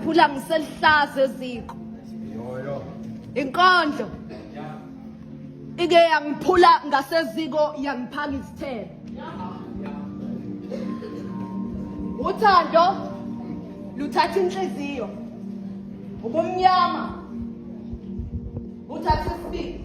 Phula ngiselihlaza eziko. Inkondlo. Ike yangiphula ngaseziko yangiphaka izithelo. Uthando luthatha inhliziyo. Ubumnyama uthatha isibili.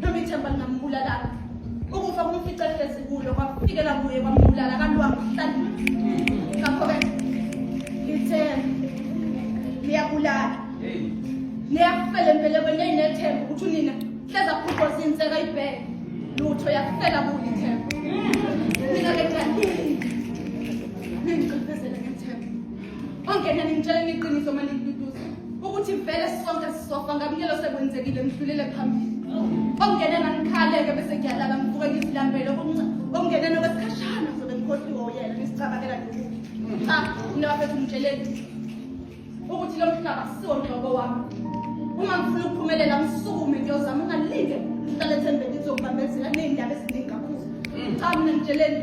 noma ithemba lingambulalanga ukufa kumfica ehlezi kulo kwafikela kuye kwambulala kanti wamhlala ngakho-ke lithe liyabulala liyafela empelekweni eyinethemba ukuthi unina hleza phuqoza inseka ibheke lutho yafela kuye ithemba mina-ke ngiyaningi ningiqiphezele Ongena ningitshela iqiniso manje ngiduduza ukuthi vele sonke sisofa ngamnyelo sekwenzekile ngidlulele phambili. Ongena ngikhaleke bese ngiyalala ngivuke ngizilambele ongena nokwesikhashana sobe ngikhohliwe uyena ngisicabangela nje. Cha, mina bafethu ngitsheleni ukuthi lo mhlaba siwo nhlobo wami. Uma ngifuna ukuphumelela ngisukume ngiyozama ungalinde ngihlale ethembeni ngizokubambezela nezindaba eziningi kakhulu. Cha mina ngitsheleni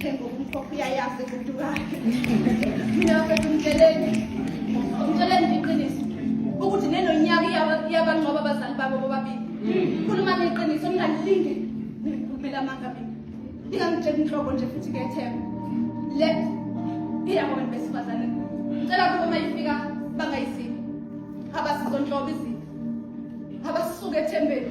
Themba umkhokho uyayazi umuntu wakhe. Mina mfethu ngitsheleni. Ngitsheleni nje iqiniso. Ukuthi nenonyaka iyaba- iyabanqoba abazali babo bobabili. Khulumani iqiniso ningalinge nikhulumele amanga mina. Ningangitsheli inhlobo nje futhi ke Themba. Le iyabo abantu besifazane. Ngicela ukuba uma ifika bangayisibi. Abasizonhlobo izinto. Abasuke ethembeni.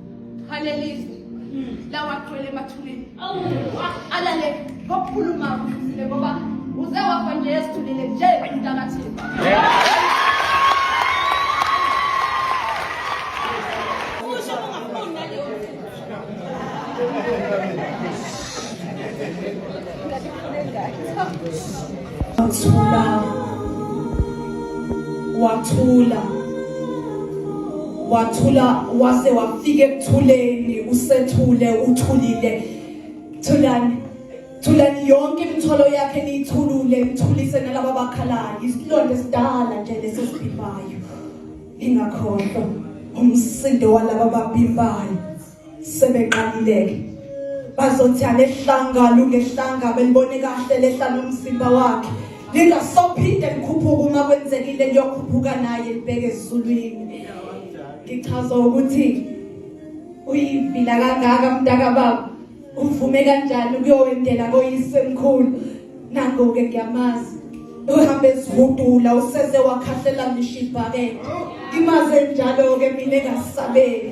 halelizwe lawagcwele emathuleni alale kokukhuluma kuhle ngoba uze wafa nje esithulile nje umntakathini Thank you. Wathula. Wathula. Wathula wase wafika ekuthuleni usethule uthulile. Thulani. Thulani yonke imithwalo yakhe niyithulule imthulise nalabo bakhalayo. Isilonda esidala nje lesesibhibayo. Ingakhohlwa umsindo walabo ababhimbayo. sebeqalileke bazothi alehlanga lungehlanga belibone kahle lehla nomzimba wakhe lingasophinde likhuphuka uma kwenzekile liyokhuphuka naye libheke ezulwini ngichaza ukuthi uyivila kangaka mntaka baba uvume kanjani ukuyowendela koyise mkhulu nangoke ngiyamazi uhambe ezihudula useze wakhahlela ngisho ibhakede imaze njalo-ke mina engasabeli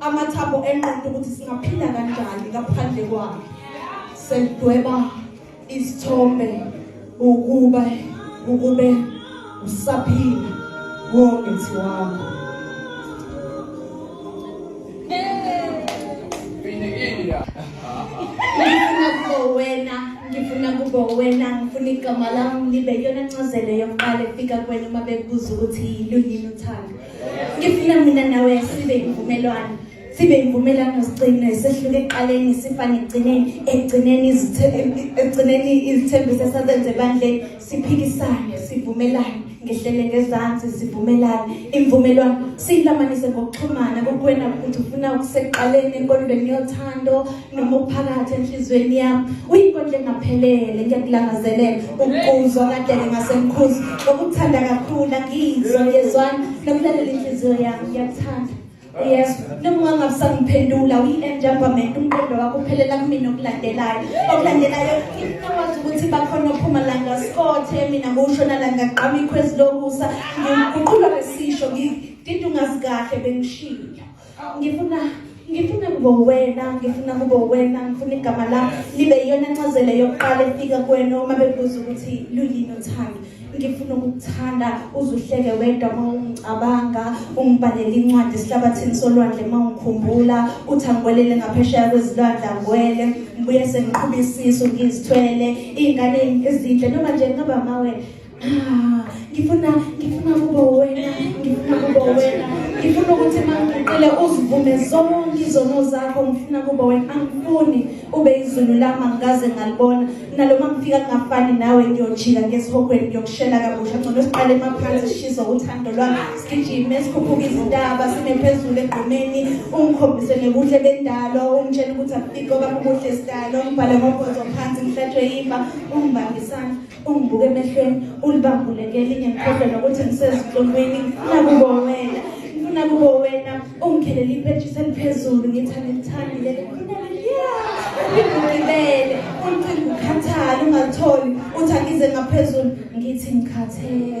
amathambo enqondo ukuthi singaphila kanjani ngaphandle kwakhe sedweba isithombe ukuba ukube usaphila wongithi wakho wena ngifuna kubo wena ngifuna igama lami libe yona ncazelo yokuqala efika kwena uma bekubuza ukuthi yilunini uthando ngifuna mina nawe sibe imvumelwano sibe imvumelwano sigcine sehluke ekuqaleni sifane ekugcineni ekugcineni ekugcineni izithembiso esazenze ebandleni siphikisane sivumelane ngehlele ngezansi sivumelane imvumelwano siyilamanise ngokuxhumana kokuwena ukuthi ufuna ukuseqaleni enkolweni yothando noma ukuphakathi enhliziyweni yami uyinkondla engaphelele ngiyakulangazelela ukuzwa kadele ngasemkhuzi ngokuthanda kakhulu angiyizwa ngiyezwana nokulalela inhliziyo yami ngiyakuthanda yes noma ungangabusangiphendula uyi-enjambament umqondo wakho uphelela kumina okulandelayo okulandelayo ngikwazi ukuthi bakhona ophuma la ngasikothe mina ngoshona la ngaqama ikhwezi lokusa ngiguqulwa ngesisho ngidinda ungazi kahle bengishilo ngifuna ngifuna kube wena ngifuna kube wena ngifuna igama la libe iyona ncazelo yokuqala efika kuwena uma bebuza ukuthi luyini uthando ngifuna ukukuthanda uzuhleke wedwa uma ungicabanga ungibhalele incwadi esihlabathini solwandle uma ungikhumbula uthi angibwelele ngaphesheya kwezilwandle angwele ngibuye sengiqhubisiso ngizithwele iy'ngane ezinhle noma nje ngaba mawe Ah, ngifuna ngifuna kuba wena ngifuna kuba wena ngifuna ukuthi mangiqile uzivume zonke izono zakho ngifuna kuba wena angifuni ube izulu lami angikaze ngalibona nalo mangifika kungafani nawe ngiyojika ngesihogweni ngiyokushela kabusha ngcono siqale emaphansi sishiza uthando lwami sigijime sikhuphuka izintaba sime phezulu egqumeni ungikhombise nekuhle bendalo ungitshela ukuthi afike okami ubuhle sidalo ngibhale ngobhozo phansi ngihlatshwe yimba ungibambisana ungibuke emehlweni ulibambuleke elinye ngikhohlwe nokuthi ngisezinhlungwini ngifuna kubo wena ngifuna kubo wena ungikhelele iphetshisi eliphezulu ngithi angilithandile likhulele ya ngigibele uncinga ukhathale ungalitholi uthi angize ngaphezulu ngithi ngikhathele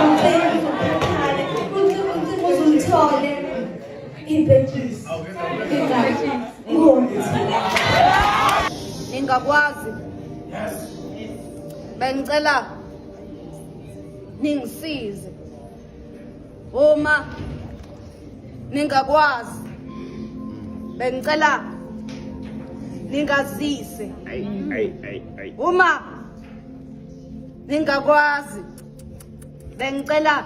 uncinga ukhathale uncinga uncinga uzulithole iphetshisi ingakwazi bengicela ningisize uma ningakwazi bengicela ningazise uma ningakwazi bengicela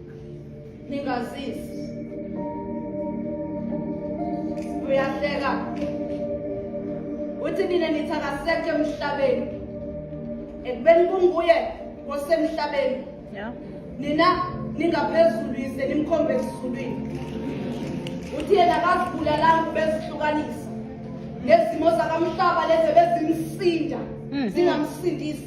ningazisi uyahleka uthi nina nithi akasekho emhlabeni ekubeni kunguye osemhlabeni nina ningaphezulu yise nimkhombe ezulwini uthi yena akazibulalanga ubezihlukanisa nezimo zakamhlaba lezi bezimsinda hmm. zingamsindisi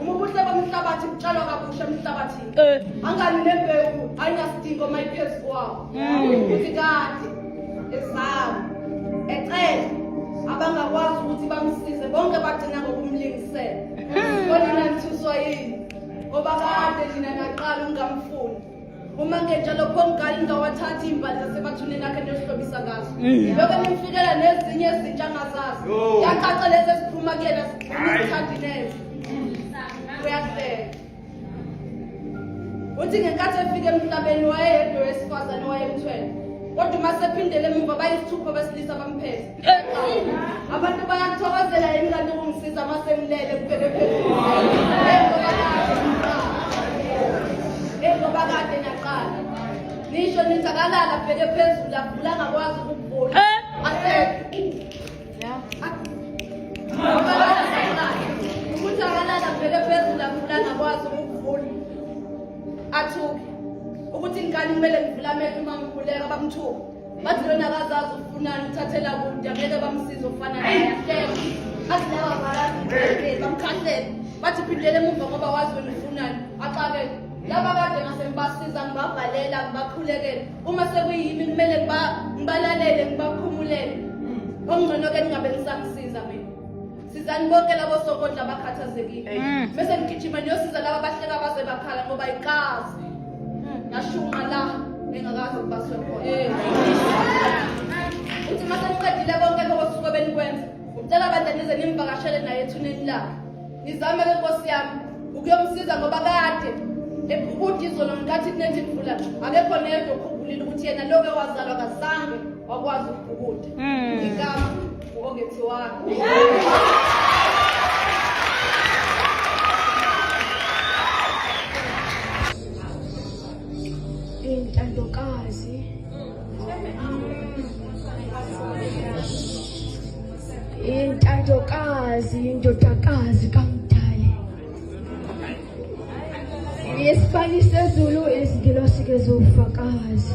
Uma ubuhle bomhlabathi butshalwa kabusha emhlabathini. Eh. Angani nembewu ayinasidingo uma iphezu kwawo. Mm. Ukuthi kade ezawo ecele abangakwazi ukuthi bamsize bonke bagcina ngokumlingisela. Mm. Kodwa nanithuswa yini? Ngoba kade nina naqala ungamfuni. uma ngenjalo khomgani ngingawathathi imbali zasebathuneni nakhe ndiyohlobisa ngazo mm. yoke nimfikela nezinye ezintsha angazazi yacaca lezi eziphuma kuyena zithandi neze uyahleka uthi ngenkathi efika emhlabeni wayeyedwa wesifazane wayemthwele kodwa uma sephindele emuva bayisithupha besilisa bamphethe Abantu bayakuthokozela yini kanti ukungisiza uma sengilele kubheke phezulu. Njengoba kade naqala. Nisho nithi akalala bheke phezulu avula ngakwazi ukuvula. Asekho. Yeah. Ukuthi akalala bheke phezulu avula ngakwazi ukuvula. Athuke. Ukuthi ngikani kumele ngivula amehlo uma ngikhuleka bamthuke. bathi lona akazazi ufunani uthathela kude angeke bamsize ofana naye bathi laba barazi bamkhahlele bathi phindele emuva ngoba wazi wena ufunani axakele laba kade ngase ngibasiza ngibabhalela ngibakhulekele uma sekuyimi kumele ngibalalele ngibakhumulele okungcono-ke ningabe ngisamsiza mina sizani bonke labo sokondla abakhathazekile mm. bese ngigijima niyosiza laba bahleka baze bakhala ngoba ikazi nashunqa la engakazi ukuba sekhona eh. uthi uma seniqedile bonke lokho suke benikwenza ngicela abantu anize nimvakashele naye ethuneni lakhe nizame ke nkosi yami ukuyomsiza ngoba kade ekude izolo ngenkathi kunethi mvula akekho neyedwa okhumbulile ukuthi yena loke wazalwa kazange wakwazi ukubhukuda mm. ngikama intandokazi intandokazi indodakazi kamdali yesibani sezulu izingilosi ke zofakazi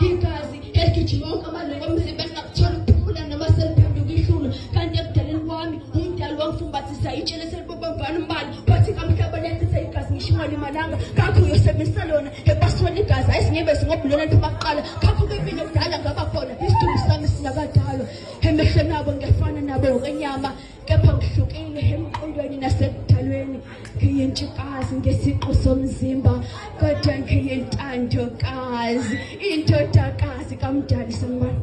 igazi eligijima wonke amalungu omzimba lingakuthola ukuphumula noma seliphenduka ihlulu kanti ekudaleni kwami umdali wangifumbathisa itshe leselibobambana umbala wathi kamhlaba liyachitha igazi ngisho ungalimalanga kakho uyosebenzisa lona ebasweni igazi ayisingebezi ngobulona liphuma kuqala kakho kepile kudala ngaba khona isidumbu sami sinakadalwa emehlweni abo ngiyafana nabo ngokwenyama kepha ngihlukile emqondweni nasekudalweni ngiyintshukazi ngesiqu somzimba kodwa ngiyintandokazi indodakazi kamdali sembani